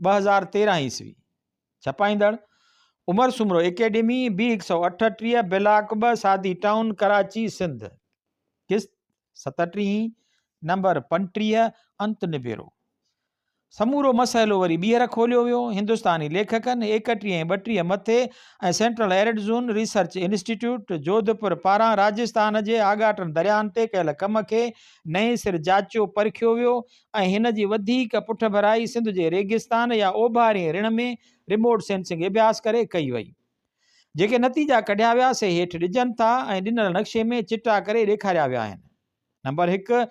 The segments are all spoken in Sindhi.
ٻه هزار تيرهن عيسوي ڇپائيندڙ عمر سومرو اڪيڊمي بي هڪ سؤ اٺٽيهه بلاڪ ٻه سادي ٽائون ڪراچي سنڌ قسط ستٽيهين نمبر پنٽيهه انت نبيرو سمورو مسئلو وري ٻيهر کوليو ويو هندستاني ليکڪن ايڪٽيهه ۽ ٻٽيهه مٿي ۽ central arid zone research institute Jodhpur پاران راجستان جي آڳاٽن درياهن تي ڪيل ڪم کي نئين سر جاچيو پرکيو ويو ۽ هن جي وڌيڪ پٺڀرائي سنڌ جي ريگستان يا اوڀارين رڻ ۾ رموٽ سينسنگ اڀياس ڪري ڪئي وئي. جيڪي نتيجا ڪڍيا ويا سي هيٺ ڏجن ٿا ۽ ڏنل نقشي ۾ چٽا ڪري ڏيکاريا ويا آهن. نمبر هڪ،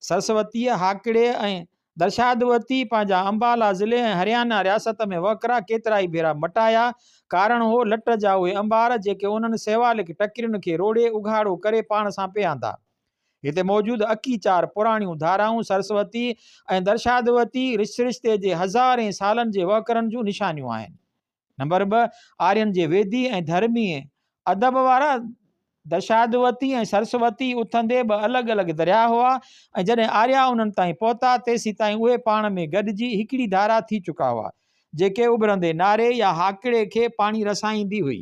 سرسوتيء، هاڪڙي ۽ درشادوتي پنهنجا امبالا ضلعي ۽ هريانا رياست ۾ وهڪرا ڪيترائي ڀيرا مٽايا، ڪارڻ هو لٽ جا اهي امبار جيڪي انهن سيوالڪ ٽڪرين کي روڙي اگهاڙو ڪري پاڻ سان پئي آندا. هتي موجود اڪي چار پراڻيون ڌارائون سرسوتي ۽ درشادوتي رشرشتي جي هزارين سالن جي وهڪرن جون نشانيون آهن. نمبر ٻه، آرين جي ويدي ۽ ڌرمي ادب وارا درشادوتي ۽ سرسوتي اٿندي ٻه الڳ الڳ درياهه هئا ۽ جڏهن آريا انهن تائين پهتا تيسيتائين اهي پاڻ ۾ گڏجي هڪڙي ڌارا ٿي چڪا هئا جيڪي اڀرندي ناري يا هاڪڙي کي پاڻي رسائيندي هئي.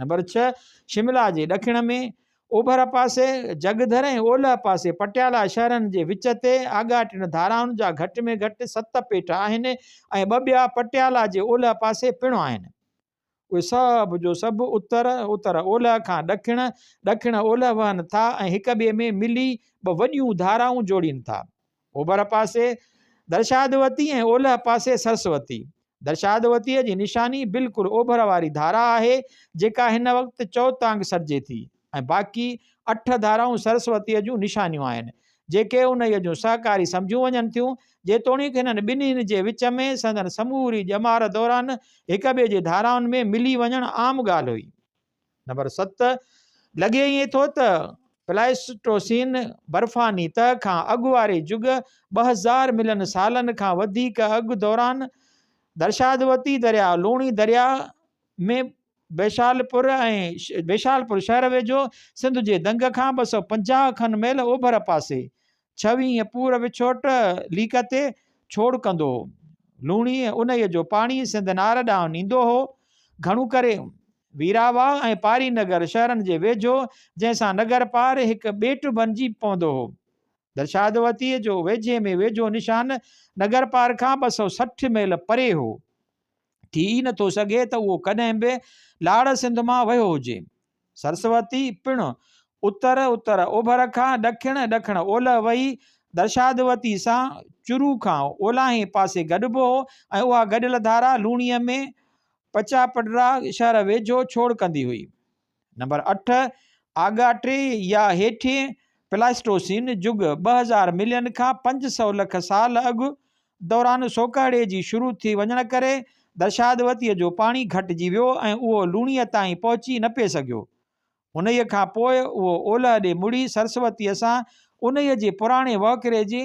نمبر ڇهه، شملا جي ڏکڻ ۾ اوڀر پاسي جڳڌر ۽ اولهه پاسي پٽيالا شهرن جي وچ تي آڳاٽين ڌارائن جا گهٽ ۾ گهٽ ست پيٽ آهن ۽ ٻه ٻيا پٽيالا جي اولهه پاسي پڻ آهن. اهي سڀ جو سڀ اتر، اتر اولهه، کان ڏکڻ، ڏکڻ اولهه، وهن ٿا ۽ هڪ ٻئي ۾ ملي ٻه وڏيون ڌارائون جوڙين ٿا. اوڀر پاسي درشادوتي ۽ اولهه پاسي سرسوتي. درشادوتيء جي نشاني بلڪل اوڀر واري ڌارا آهي، جيڪا هن وقت چؤتانگ سڏجي ٿي ۽ باقي اٺ ڌارائون سرسوتيء جون نشانيون آهن، جيڪي انهيء جون سهڪاري سمجهيون وڃن ٿيون، جيتوڻيڪ هنن ٻنهين جي وچ ۾ سندن سموري ڄمار دوران هڪٻئي جي ڌارائن ۾ ملي وڃڻ عام ڳالهه هئي. نمبر ست، لڳي ائين ٿو ته پلائسٽوسين، برفاني تهه، کان اڳ واري جڳ، ٻه هزار ملين سالن کان وڌيڪ اڳ، دوران درشادوتي درياء، لوڻي درياء ۾ بيشالپور ۽ بيشالپور شهر ويجهو، سنڌ جي دنگ کان ٻه سؤ پنجاهه کن ميل اوڀر پاسي، ڇوينء پور وڇوٽ ليڪ تي ڇوڙ ڪندو هو. لوڻيء انهيء جو پاڻي سنڌ نار ڏانهن نيندو هو. گهڻو ڪري ويراواهه ۽ پاري نگر شهرن جي ويجهو، جنهن سان نگر پار هڪ ٻيٽ بنجي پوندو هو. درشادوتيء جو ويجهي ۾ ويجهو نشان نگر پار کان ٻه سؤ سٺ ميل پري هو. ٿي ئي نه ٿو سگهي ته اهو ڪڏهن به لاڙ سنڌ مان وهيو هجي. سرسوتي پڻ اتر اتر اوڀر کان ڏکڻ ڏکڻ اولهه وهي درشادوتي سان چرو کان اولاهين پاسي گڏبو هو ۽ اها گڏيل ڌارا لوڻيء ۾ پچاپڊرا شهر ويجهو ڇوڙ ڪندي هئي. نمبر اٺ، آڳاٽي يا هيٺين پلاسٽوسين جڳ، ٻه هزار ملين کان پنج سؤ لک سال اڳ، دوران سوڪهڙي جي شروع ٿي وڃڻ ڪري درشادوتيء جو پاڻي گهٽجي ويو ۽ اهو لوڻيء تائين پهچي نه پئي سگهيو. انهيء کان پوء اهو اولهه ڏي مڙي سرسوتيء سان انهيء جي پراڻي وهڪري جي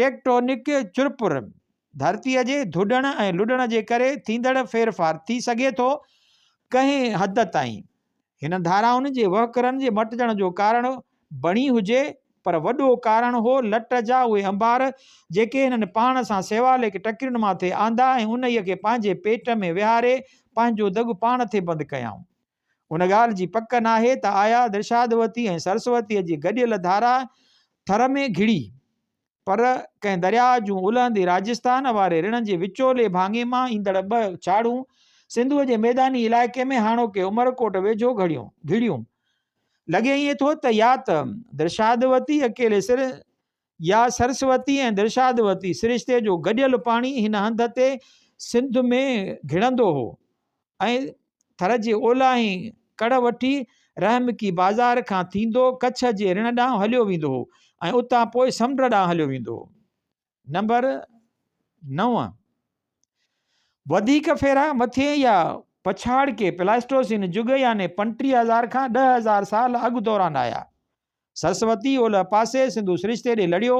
ٽيڪٽونڪ چرپر، ڌرتيء جي ڌڏڻ ۽ لڏڻ جي ڪري ٿيندڙ ڦيرڦار ٿي سگهي ٿو ڪنهن حد تائين هن ڌارائن جي وهڪرن جي مٽجڻ جو ڪارڻ بڻي هجي پر وڏو ڪارڻ هو لٽ جا اهي انبار جيڪي هنن پاڻ سان سيواليڪ ٽڪرين ماٿي آندا ۽ انهيء کي پنهنجي پيٽ ۾ ويهاري پنهنجو دڳ پاڻ ٿي بند ڪيائون ان ڳالهه جي پڪ ناهي ته آيا درشادوتي ۽ سرسوتيء جي گڏيل ڌارا ٿر ۾ گهڙي، پر ڪنهن درياء جون الهندي راجسٿان واري رڻ جي وچولي ڀاڱي مان ايندڙ ٻه ڇاڙهون سنڌوء جي ميداني علائقي ۾ هاڻوڪي عمرڪوٽ ويجهو گهڙيون، گهڙيون. لڳي ائين ٿو ته يا ته درشادوتي اڪيلي سر يا سرسوتي ۽ درشادوتي سرشتي جو گڏيل پاڻي هن هنڌ تي سنڌ ۾ گهڙندو هو ۽ ٿر جي اولاهين ڪڙ وٺي رحمڪي بازار کان ٿيندو ڪڇ جي رڻ ڏانهن هليو ويندو هو ۽ اتان پوء سمنڊ ڏانهن هليو ويندو هو نمبر نو وڌيڪ ڦيرا مٿين يا پڇاڙڪي پلاسٽوسين جڳ يعني پنٽيهه هزار کان ڏهه هزار سال اڳ دوران آيا سرسوتي اولهه پاسي سنڌو سرشتي ڏي لڙهيو.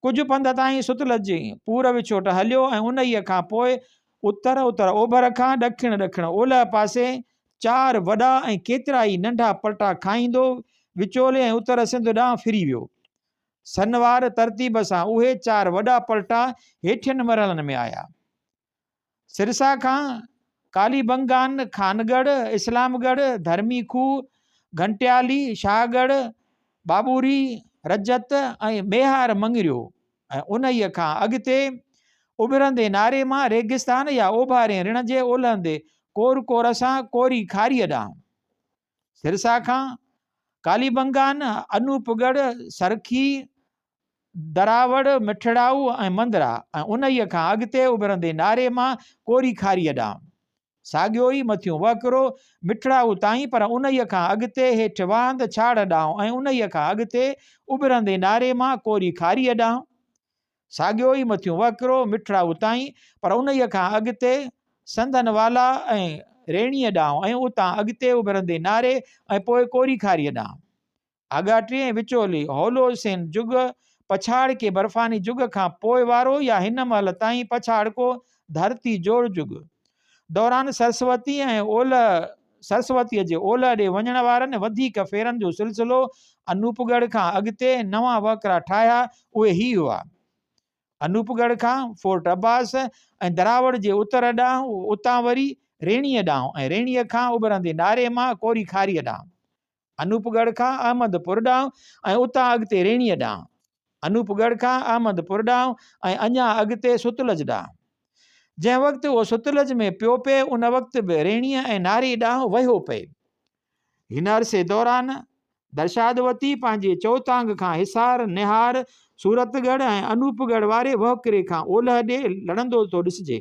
ڪجهه پنڌ تائين ستلج جي پور وڇوٽ هليو ۽ انهيء کان پوء اتر اتر اوڀر کان ڏکڻ ڏکڻ اولهه پاسي چار وڏا ۽ ڪيترائي ننڍا پلٽا کائيندو وچولي ۽ اتر سنڌ ڏانهن ڦري ويو. سنوار ترتيب سان اهي چار وڏا پلٽا هيٺين مرحلن ۾ آيا. سرسا کان ڪالي بنگان، خانڳڙهه، اسلام ڳڙهه، ڌرمي کوهه، گهنٽيالي، شاهه ڳڙهه، ٻاٻوري، رجت ۽ ميهار مڱريو ۽ انهيء کان اڳتي اڀرندي ناري مان ريگستان يا اوڀارين رڻ جي اولهندي ڪور ڪور سان ڪوري کاريء ڏانهن. سرسا کان ڪالي بنگان، انوپ ڳڙهه، سرکي، دراوڙ، مٺڙائو ۽ مندرا ۽ انهيء کان اڳتي اڀرندي ناري مان ڪوري کاريء ڏانهن. ساڳيو ئي مٿيون وهڪرو مٺڙائو تائين پر انهيء کان اڳتي هيٺ وهند ڇاڙهه ڏانهن ۽ انهيء کان اڳتي اڀرندي ناري مان ڪوري کاريء ڏانهن. ساڳيو ئي مٿيون وهڪرو مٺڙا اتاهين پر انهيء کان اڳتي سنڌن والا ۽ ريڻيء ڏانهن ۽ اتان اڳتي اڀرندي ناري ۽ پوء ڪوري کاريء ڏانهن. آڳاٽي ۽ وچولي هولوسين جڳ پڇاڙڪي برفاني جڳ کان پوء وارو يا هن مهل تائين پڇاڙڪو ڌرتي جوڙ جڳ. دوران سرسوتي ۽ اولهه سرسوتيء جي اولهه ڏي وڃڻ وارن وڌيڪ ڦيرن جو سلسلو انوپ ڳڙهه کان اڳتي نوان وهڪرا ٺاهيا اهي هي هئا، انوپ ڳڙهه کان فورٽ عباس ۽ دراوڙ جي اتر ڏانهن اتان وري ريڻيء ڏانهن ۽ ريڻيء کان اڀرندي ناري مان ڪوري کاريء ڏانهن. انوپ ڳڙهه کان احمد پور ڏانهن ۽ اتان اڳتي ريڻيء ڏانهن. انوپ ڳڙهه کان احمد پور ڏانهن ۽ اڃا اڳتي ستلج ڏانهن. جنهن وقت اهو ستلج ۾ پيو پئي ان وقت به ريڻيء ۽ ناري ڏانهن وهيو پئي. هن عرصي دوران درشادوتي پنهنجي چوتانگ کان حصار، نهار، صورت ڳڙهه ۽ انوپ ڳڙهه واري وهڪري کان اولهه ڏي لڙندو ٿو ڏسجي.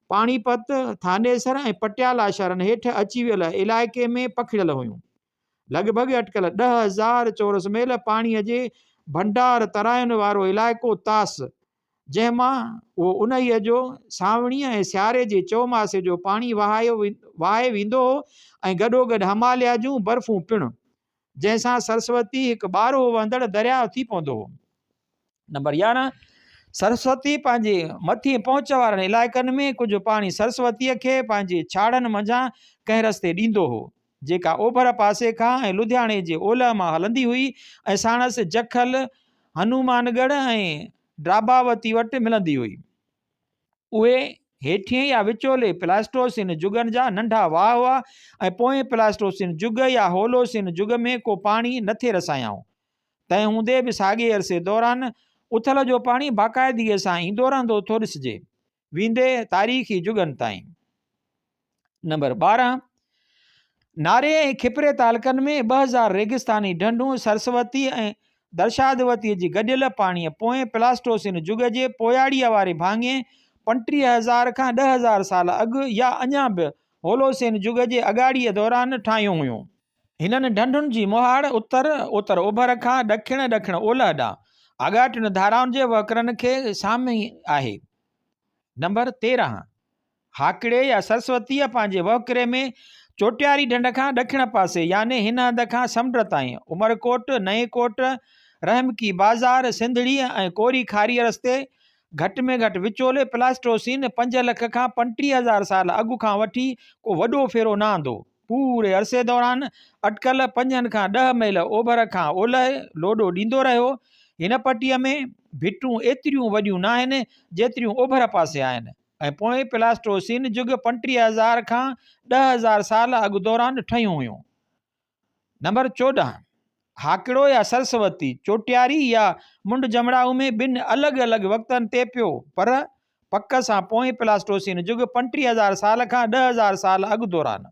پاڻي پت، ٿانيسر ۽ پٽيالا شھرن ھيٺ اچي ويل علائقي ۾ پکڙيل ھيون. لڳ ڀڳ اٽڪل ڏھ ھزار چورس ميل پاڻي جي ڀنڊار تراين وارو علائقو طاس، جنھن مان اھو اونھيء جو، سانوڻيء ۽ سياري جي چوماسي جو پاڻي وھائي ويندو ھو ۽ گڏوگڏ ھماليا جون برفون پڻ جنهن سان سرسوتي هڪ ٻارهو وهندڙ درياء ٿي پوندو. نمبر يارهن، سرسوتي پنهنجي مٿين پهچ وارن علائقن ۾ ڪجهه پاڻي سرسوتيء کي پنهنجي ڇاڙهن منجهان ڪنهن رستي ڏيندو هو، جيڪا اوڀر پاسي کان ۽ لڌياڻي جي اولهه مان هلندي هئي ۽ ساڻس جکل، هنومان ڳڙهه ۽ ڊاڀاوتي وٽ ملندي هئي. اهي هيٺين يا وچولي پلاسٽوسين جڳن جا ننڍا واهه هئا ۽ پوئين پلاسٽوسين جڳ يا هولوسين جڳ ۾ ڪو پاڻي نه ٿي رسايائون. تنهن هوندي به ساڳئي عرصي دوران اٿل جو پاڻي باقاعدگيء سان ايندو رهندو ٿو ڏسجي، ويندي تاريخي جڳن تائين. نمبر ٻارهن ناري ۽ کپري تعلقن ۾ ٻه هزار ريگستاني ڍنڍون سرسوتي ۽ درشادوتي جي گڏيل پاڻيء پوئين پلاسٽوسين جڳ جي پوياڙيء واري ڀاڱي پنٽيهه هزار کان ڏهه هزار سال اڳ يا اڃا به هولوسين جڳ جي اڳاڙيء دوران ٺاهيون هيون. هنن ڍنڍن جي مهاڙ اتر اتر اوڀر کان ڏکڻ ڏکڻ اولهه ڏانهن آڳاٽين ڌارائن جي وهڪرن کي سامهين آهي. نمبر تيرهن هاڪڙي يا سرسوتيء پنهنجي وهڪري ۾ چوٽياري ڍنڍ کان ڏکڻ پاسي يعني هن هنڌ کان سمنڊ تائين، عمرڪوٽ، نئين ڪوٽ، رحمڪي بازار، سنڌڙيء ۽ ڪوري کاريء رستي، گهٽ ۾ گهٽ وچولي پلاسٽوسين پنج لک کان پنٽيهه هزار سال اڳ کان وٺي ڪو وڏو ڦيرو نه آندو. پوري عرصي دوران اٽڪل پنجن کان ڏهه ميل اوڀر کان اولهه لوڏو ڏيندو رهيو. هن پٽيء ۾ ڀٽون ايتريون وڏيون ناهن، جيتريون اوڀر پاسي آهن. ۽ پوئين پلاسٽوسين جڳ پنٽيهه هزار کان ڏهه هزار سال اڳ دوران ٺهيون هيون. نمبر چوڏهن، هاڪڙو يا سرسوتي، چوٽياري يا منڊ جمڙائو ۾ ٻن الڳ الڳ وقتن تي پيو، پر پڪ سان پوئين پلاسٽوسين جڳ پنٽيهه هزار سال کان ڏهه هزار سال اڳ دوران.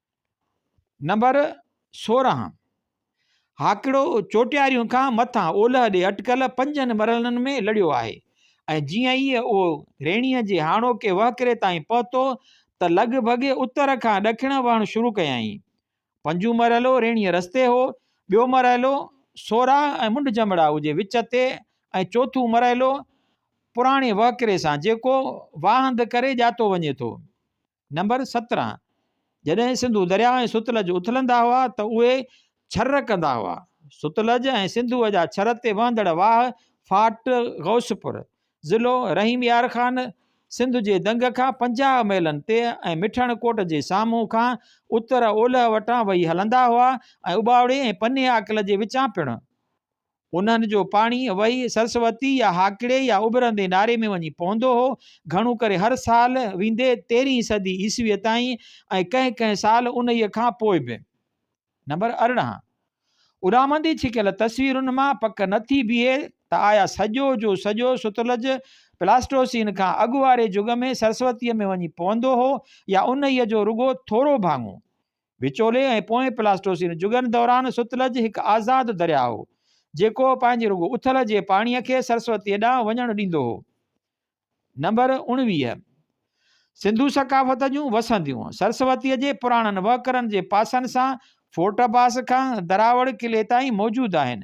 نمبر سورهن، هاڪڙو چوٽياريون کان مٿان اولهه ڏي اٽڪل پنجن مرحلن ۾ لڙيو آهي ۽ جيئن ئي اهو ريڻيء جي هاڻوڪي وهڪري تائين پهتو ته لڳ ڀڳ اتر کان ڏکڻ وهڻ شروع ڪيائين. پنجون مرحلو ريڻيء رستي هو، ٻيو مرحلو سورهه ۽ منڍ جمڙائو جي وچ تي ۽ چوٿون مرحلو پراڻي وهڪري سان جيڪو واهند ڪري ڄاتو وڃي ٿو. نمبر سترهن، جڏهن سنڌو درياء ۽ ستلج اٿلندا هئا ته اهي ڇر ڪندا هئا. ستلج ۽ سنڌوء جا ڇر تي وهندڙ واهه ڦاٽ غوثپور، ضلعو رحيم يار خان، سنڌ جي دنگ کان پنجاهه ميلن تي ۽ مٺڻ ڪوٽ جي سامهون کان اتر اولهه وٽان وهي هلندا هئا ۽ اٻاوڙي ۽ پني آڪل جي وچان پڻ انهن جو پاڻي وهي سرسوتي يا هاڪڙي يا اڀرندي ناري ۾ وڃي پوندو هو. گهڻو ڪري هر سال ويندي تيرهين صدي عيسويء تائين ۽ ڪنهن ڪنهن سال انهيء کان پوء به. نمبر ارڙهن. اڏامندي ڇڪيل تصويرن مان پڪ نه ٿي بيهي ته آيا سڄو جو سڄو ستلج پلاسٽوسين کان اڳ واري جڳ ۾ سرسوتيء ۾ وڃي پوندو هو يا انهيء جو رڳو ٿورو ڀاڱو وچولي ۽ پوئين پلاسٽوسين جڳن دوران ستلج هڪ آزاد درياهه هو، جيڪو پنهنجي رڳو اٿل جي پاڻيء کي سرسوتيء ڏانهن وڃڻ ڏيندو هو. نمبر اڻويهه. سنڌو ثقافت جون وسنديون، سرسوتيء جي پراڻن وهڪرن جي پاسن سان فورٽ باس کان دراوڙ قلعي تائين موجود آهن.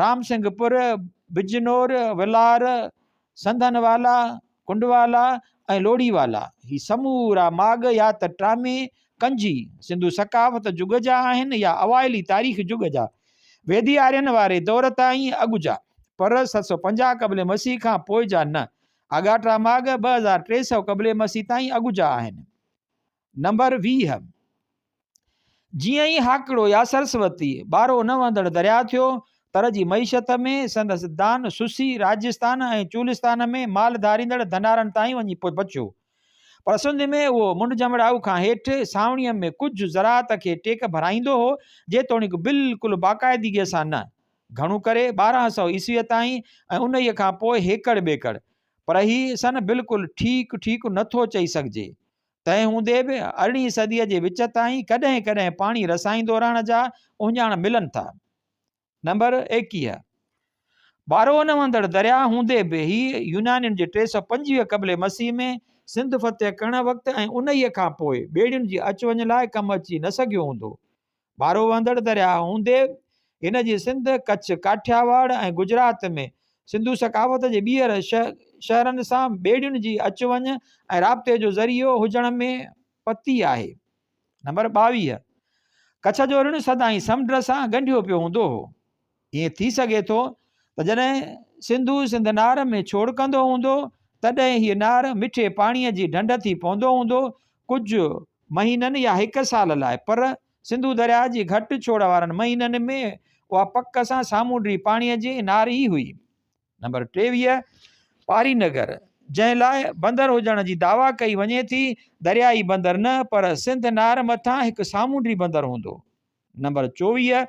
رامسنگهپور، بجنور، ولار، سنڌن والا، ڪنڊوالا ۽ لوڙهي والا هي سمورا ماڳ يا ته ٽامي ڪنجي سنڌو ثقافت جڳ جا آهن يا اوائلي تاريخ جڳ جا ويدي آرين واري دور تائين اڳ جا پر ست سؤ پنجاهه قبل مسيح کان پوء جا نه. آڳاٽا ماڳ ٻه هزار ٽي سؤ قبل مسيح تائين اڳ جا آهن. نمبر ويهه، جيئن ئي هاڪڙو يا سرسوتي ٻارو نه وهندڙ درياء ٿيو، تر جي معيشت ۾ سندس دان سسي راجستان ۽ چولستان ۾ مال ڌاريندڙ ڌنارن تائين وڃي پهچيو. پر سنڌ ۾ اهو منڍ جمڙائو کان هيٺ سانوڻيء ۾ ڪجهه زراعت کي ٽيڪ ڀرائيندو هو، جيتوڻيڪ بلڪل باقاعدگيء سان نه. گهڻو ڪري ٻارهن سؤ عيسويء تائين ۽ انهيء کان پوء هيڪڙ ٻيڪڙ. پر هي سن بلڪل ٺيڪ ٺيڪ نه ٿو چئي سگهجي. تنهن هوندي به ارڙهين صديء جي وچ تائين ڪڏهن ڪڏهن پاڻي رسائيندو رهڻ جا اهڃاڻ ملن ٿا. نمبر ايڪيهه ٻارهو نه وهندڙ درياء هوندي به هي يونانين جي ٽي سؤ پنجويهه قبل مسيح ۾ سنڌ فتح ڪرڻ وقت ۽ انهيء کان پوء ٻيڙين جي اچ وڃ لاء ڪم اچي نه سگهيو هوندو. ڀارو وهندڙ درياهه هوندي هن جي سنڌ، ڪڇ، ڪاٺياواڙ ۽ گجرات ۾ سنڌو ثقافت جي ٻيهر شهرن سان ٻيڙين جي اچ وڃ ۽ رابطي جو ذريعو هجڻ ۾ پتي آهي. نمبر ٻاويهه، ڪڇ جو رڻ سدائين سمنڊ سان ڳنڍيو پيو هوندو هو. ائين ٿي سگهي ٿو ته جڏهن سنڌو سنڌ نار ۾ ڇوڙڪندو هوندو تڏهن هيء نار مٺي پاڻيء جي ڍنڍ ٿي پوندو هوندو ڪجهه مهينن يا هڪ سال لاء پر سنڌو درياء جي گهٽ ڇوڙ وارن مهينن ۾ اها پڪ سان سامونڊي پاڻيء جي نار ئي هئي. نمبر ٽيويهه پاري نگر جنهن لاء بندر هجڻ جي دعويٰ ڪئي وڃي ٿي دريائي بندر نه پر سنڌ نار مٿان هڪ سامونڊي بندر هوندو. نمبر چوويهه،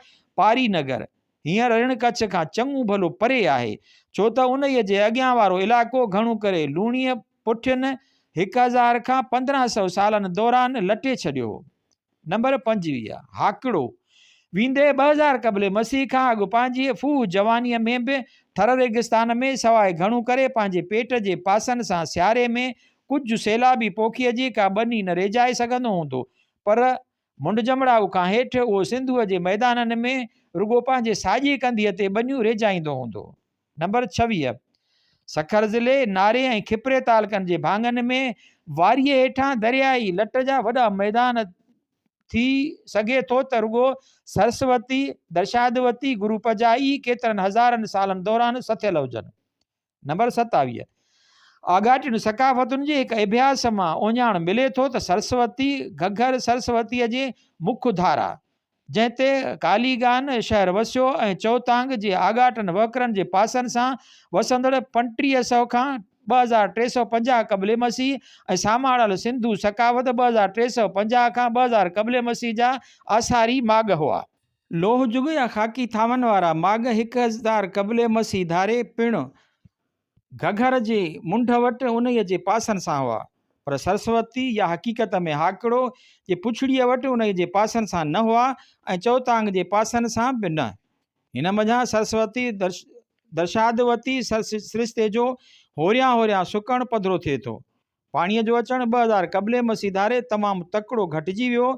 پاري نگر، هينئر رڻ ڪڇ کان چڱو ڀلو پري آهي، ڇو ته انهيء جي اڳيان وارو علائقو گهڻو ڪري لوڻيء پٺين هڪ هزار کان پندرهن سئو سالن دوران لٽي ڇڏيو هو. نمبر پنجويهه، هاڪڙو، ويندي ٻه هزار قبل مسيح کان اڳ پنهنجيء ڦوهه جوانيء ۾ به ٿر ريگستان ۾ سواء گهڻو ڪري پنهنجي پيٽ جي پاسن سان سياري ۾ ڪجهه سيلابي پوکيء جي ڪا ٻني نه ريجهائي سگهندو هوندو پر منڍ جمڙائو کان هيٺ اهو سنڌوء جي ميدانن ۾ رڳو پنهنجي ساڄي ڪنڌيء تي ٻنيون ريجهائيندو هوندو. نمبر ڇويهه. سکر ضلعي ناري ۽ کپري تعلقن جي ڀاڱن ۾ واريء هيٺان درياهي لٽ جا وڏا ميدان ٿي سگهي ٿو ته رڳو سرسوتي، درشادوتي، گروپجا ئي ڪيترن هزارن سالن دوران سٿيل هجن. نمبر ستاويهه، آڳاٽين ثقافتن جي هڪ اڀياس مان اوڃاڻ ملي ٿو ته سرسوتي گهگهر سرسوتيء جي مک ڌارا، جنهن تي ڪاليگان شهر وسيو ۽ چوتانگ جي آڳاٽن وهڪرن جي پاسن سان وسندڙ پنج ٽيهه سؤ کان ٻه هزار ٽي سؤ پنجاهه قبل مسيح ۽ ساماڙل سنڌو ثقافت ٻه هزار ٽي سؤ پنجاهه کان ٻه هزار قبل مسيح جا آثاري ماڳ هئا. لوهه جڳ يا خاڪي ٿانون وارا ماڳ هڪ هزدار قبل مسيح ڌاري پڻ گهگهر جي منڍ وٽ انهيء جي پاسن سان هئا، پر سرسوتي يا حقيقت ۾ هاڪڙو جي پڇڙيء وٽ انهيء جي پاسن سان نه هئا ۽ چوتانگ جي پاسن سان به نه. هن منجهان سرسوتي درشادوتي سرشتي جو هوريان هوريان سڪڻ پڌرو ٿئي ٿو. پاڻيء جو اچڻ ٻه هزار قبل مسيح ڌاري تمام تڪڙو گهٽجي ويو،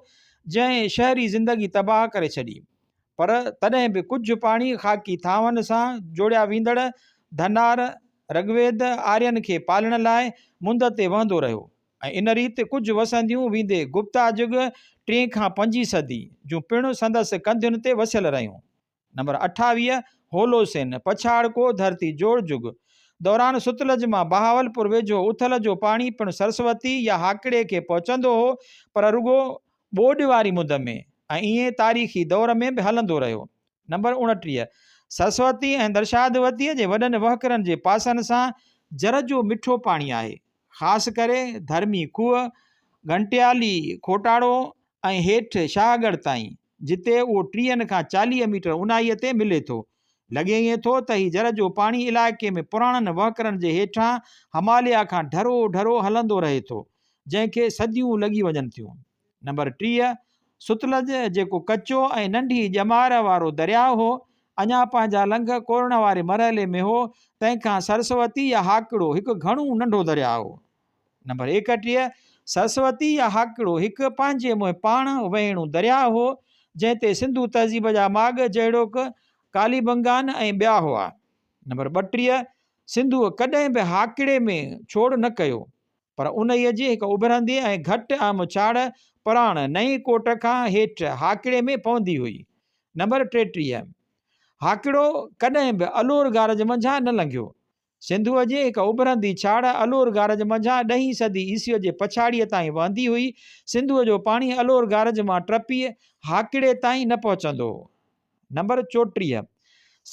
جنهن شهري زندگي تباهه ڪري ڇڏي. پر تڏهن به ڪجهه پاڻي خاڪي ٿانون سان جوڙيا ويندڙ ڌنار، رگويد، آرين کي پالڻ لاء مند تي وهندو رهيو ۽ ان ريت ڪجهه وسنديون ويندي گپتا جگ، ٽين کان پنجين صدي، جون پڻ سندس ڪنڌين تي وسيل رهيون. نمبر اٺاويهه هولوسين، پڇاڙڪو، ڌرتي جوڙ جڳ دوران ستلج مان بهاولپور ويجهو اٿل جو پاڻي پڻ سرسوتي يا هاڪڙي کي پهچندو هو پر رڳو ٻوڏ واري مد ۾ ۽ ائين تاريخي دور ۾ به هلندو رهيو. نمبر اوڻٽيهه سرسوتي ۽ درشادوتيء جي وڏن وهڪرن جي پاسن سان جر جو مٺو پاڻي آهي. خاص ڪري ڌرمي کوهه، گهنٽيالي، کوٽاڙو ۽ هيٺ شاهه ڳڙهه تائين. جتي اهو ٽيهن کان چاليهه ميٽر اونهائيء تي ملي ٿو. لڳي ائين ٿو ته هي جر جو پاڻي علائقي ۾ پراڻن وهڪرن جي هيٺان هماليا کان ڍرو ڍرو هلندو رهي ٿو، جنهن کي صديون لڳي وڃن ٿيون. نمبر ٽيهه، ستلج، جيڪو ڪچو ۽ ننڍي ڄمار وارو درياهه هو، اڃا پنهنجا لنگهه ڪورڻ واري مرحلي ۾ هو، تنهن کان سرسوتي يا هاڪڙو هڪ گهڻو ننڍو درياهه هو. نمبر ايڪٽيهه، سرسوتي يا هاڪڙو هڪ پنهنجي منهن پاڻ وهيڻو درياء هو، جنهن تي سنڌو تهذيب جا ماڳ جهڙوڪ ڪاليبنگان ۽ ٻيا هئا. نمبر ٻٽيهه، سنڌوء ڪڏهن به هاڪڙي ۾ ڇوڙ نه ڪيو، پر انهيء جي هڪ اڀرندي ۽ گهٽ اهم ڇاڙ پراڻ نئين ڪوٽ کان هيٺ هاڪڙي ۾ پوندي هئي. نمبر ٽيٽيهه، هاڪڙو ڪڏهن به الور گارج منجهان نه لنگهيو، سنڌوء جي هڪ اڀرندي ڇاڙهه الور گارج منجهان ڏهين صدي عيسويء جي پڇاڙيء تائين وهندي هئي. سنڌوء جو پاڻي الور گارج مان ٽپي هاڪڙي تائين نه پهچندو هو. نمبر چوٽيهه،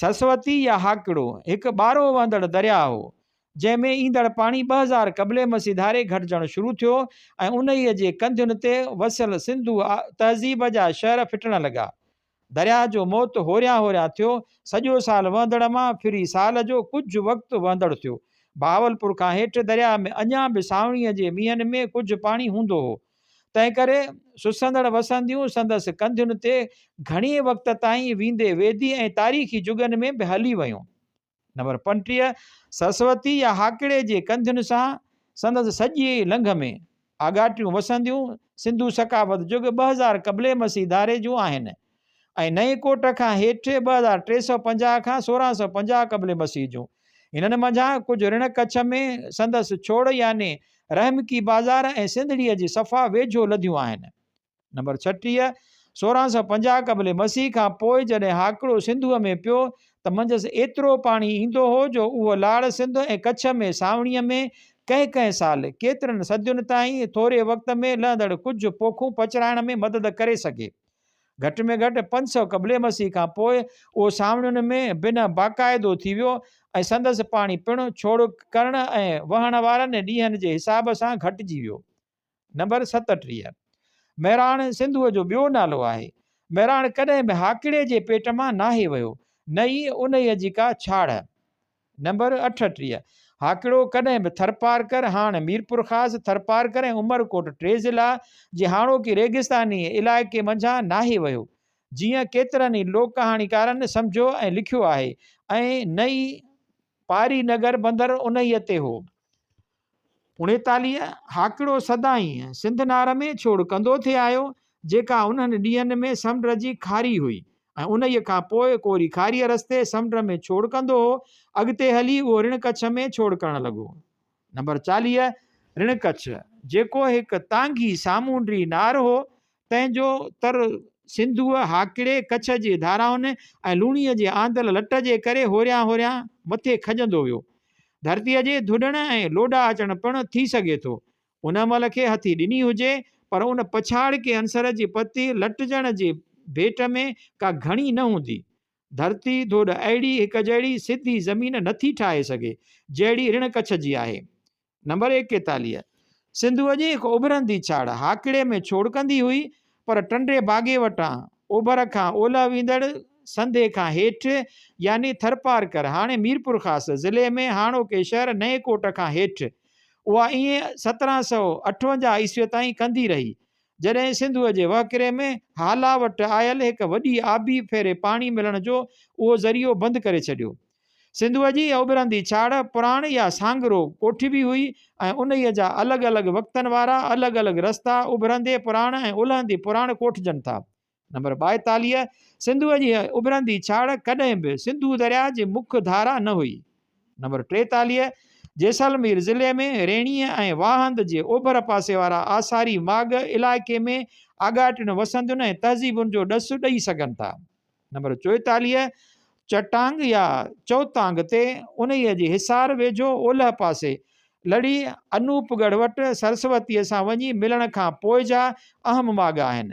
سرسوتي يا هاڪڙو هڪ ٻارهو وهندڙ درياهه هو، جنهن ۾ ايندڙ پاڻي ٻه هزار قبل مسيح ڌاري گهٽجڻ شروع ٿيو ۽ انهيء جي ڪنڌين تي وسيل سنڌو تهذيب جا شهر ڦٽڻ لڳا. درياهه جو موت هوريان هوريان ٿيو. سڄو سال وهندڙ مان ڦري سال جو ڪجهه وقت وهندڙ ٿيو. بهاولپور کان هيٺ درياهه ۾ اڃا به سانوڻيء جي مينهن ۾ ڪجهه پاڻي هوندو هو. تنهنڪري سسندڙ وسنديون سندس ڪنڌين تي گهڻي وقت تائين ويندي ويدي ۽ تاريخي جڳهن ۾ به هلي ويون. نمبر پنٽيهه، سرسوتي يا هاڪڙي جي ڪنڌين سان سندس سڄي لنگهه ۾ آڳاٽيون وسنديون سنڌو ثقافت جڳ ٻه هزار قبل مسيح ڌاري جون آهن ۽ نئين ڪوٽ کان هيٺ ٻه هزار ٽي سؤ پنجاهه کان سورهن سؤ پنجاهه قبل مسيح جون هنن منجهان ڪجهه رڻ ڪڇ ۾ سندس ڇوڙ يعني رحمڪي بازار ۽ سنڌڙيء جي صفا ويجهو لڌيون آهن نمبر ڇٽيهه، سورهن سؤ پنجاهه قبل مسيح کان پوء جڏهن هاڪڙو سنڌوء ۾ پيو ته منجهس ايترو پاڻي ايندو هو جو اهو لاڙ سنڌ ۽ ڪڇ ۾ سانوڻيء ۾ ڪنهن ڪنهن سال، ڪيترن صدين تائين، ٿوري وقت ۾ لهندڙ ڪجهه پوکون پچرائڻ ۾ مدد ڪري سگهي. گهٽ ۾ گهٽ پنج سؤ قبل مسيح کان پوء اهو سانوڻين ۾ بنهه باقاعدو ٿي ويو ۽ سندس پاڻي پڻ ڇوڙڪ ڪرڻ ۽ وهڻ وارن ڏينهن جي حساب سان گهٽجي ويو. نمبر ستٽيهه، مهراڻ سنڌوء جو ٻيو نالو آهي. مهراڻ ڪڏهن به هاڪڙي جي پيٽ مان ناهي ويو، نه ئي انهيء جي ڪا ڇاڙهه. نمبر اٺٽيهه، هاڪڙو ڪڏهن به ٿرپارڪر، هاڻ ميرپورخاص، ٿرپارڪر ۽ عمرڪوٽ ٽي ضلعا، جي هاڻوڪي ريگستانيء علائقي منجهان ناهي ويو، جيئن ڪيترن ئي لوڪ ڪهاڻيڪارن سمجهيو ۽ لکيو آهي ۽ نه ئي پاري نگر بندر انهيء تي هو. اڻيتاليه هاڪڙو سدائين سنڌ نار ۾ ڇوڙ ڪندو ٿي آيو، جيڪا انهن ڏينهن ۾ سمنڊ جي کاري هئي ۽ انهيء کان پوء ڪوري کاريء رستي سمنڊ ۾ ڇوڙ ڪندو هو. اڳتي هلي اهو رڻ ڪڇ ۾ ڇوڙ ڪرڻ لڳو. نمبر چاليهه، رڻ ڪڇ، جيڪو هڪ تانگهي سامونڊي نار هو، تنهن جو تر سنڌوء هاڪڙي ڪڇ جي ڌارائن ۽ لوڻيء جي آندل لٽ جي ڪري هوريان هوريان مٿي کڄندو ويو. ڌرتيء جي ڌڏڻ ۽ لوڏا اچڻ پڻ ٿي سگهي ٿو. ان مهل کي هٿي ڏني هجي، پر ان پڇاڙڪي عنصر جي پتي لٽجڻ جي ڀيٽ ۾ ڪا گهڻي نه هوندي. ڌرتي ڌوڏ اهڙي هڪ جهڙي سڌي زمين نه ٿي ٺاهي سگهي، جهڙي رڻ ڪڇ جي آهي. نمبر ايڪيتاليهه، سنڌوء جي هڪ اڀرندي ڇاڙهه هاڪڙي ۾ ڇوڙڪندي هئي، پر ٽنڊي باگي وٽان اوڀر کان اولهه ويندڙ سنڌي کان هيٺ يعني ٿرپارڪر، هاڻي ميرپورخاص، ضلعي ۾ هاڻوڪي شهر نئين ڪوٽ کان هيٺ، اها ائين سترهن سؤ اٺونجاهه عيسويء تائين ڪندي رهي، جڏهن سنڌوء جي وهڪري ۾ هالا وٽ آيل هڪ وڏي آبي ڦيري پاڻي ملڻ جو اهو ذريعو بند ڪري ڇڏيو. سنڌوء جي اڀرندي ڇاڙهه پراڻ يا سانگرو ڪوٺبي هئي ۽ انهيء جا الڳ الڳ وقتن وارا الڳ الڳ رستا اڀرندي پراڻ ۽ الهندي پراڻ ڪوٺجن ٿا. نمبر ٻائيتاليهه، سنڌوء جي هيء اڀرندي ڇاڙهه ڪڏهن به سنڌو درياهه جي مک ڌارا نه هئي. نمبر ٽيتاليهه، جيسلمير ضلعي ۾ ريڻيء ۽ واهند جي اوڀر پاسي وارا آثاري ماڳ علائقي ۾ آڳاٽين وسندين ۽ تهذيبن جو ڏس ڏئي سگهن ٿا. نمبر چوئيتاليهه، چٽانگ يا چوتانگ تي، انهيء جي حصار ويجهو اولهه پاسي، لڙهي انوپ ڳڙهه وٽ سرسوتيء سان وڃي ملڻ کان پوء جا اهم ماڳ آهن.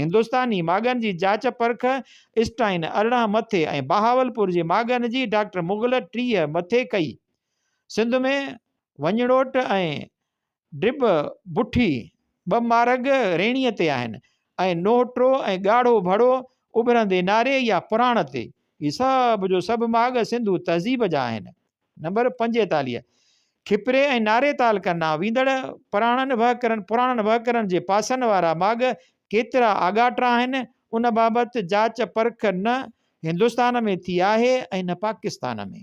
هندستاني ماڳن جي جاچ پرک، اسٽائن ارڙهن مٿي ۽ بهاولپور جي ماڳن جي ڊاڪٽر مغل ٽيهه مٿي ڪئي. سنڌ ۾ وڃڙوٽ ۽ ڊٻ بٺي ٻه مارڳ ريڻيء تي آهن ۽ نوهٽو ۽ ڳاڙهو ڀڙو اڀرندي ناري يا پراڻ تي. هي سڀ جو سڀ ماڳ سنڌو تهذيب جا آهن. نمبر پنجيتاليهه، کپري ۽ ناري تال ڪرنا ويندڙ پراڻن وهڪرن پراڻن وهڪرن جي پاسن وارا ماڳ ڪيترا آڳاٽا آهن، ان بابت جاچ پرک نه هندستان ۾ ٿي آهي ۽ نه پاڪستان ۾.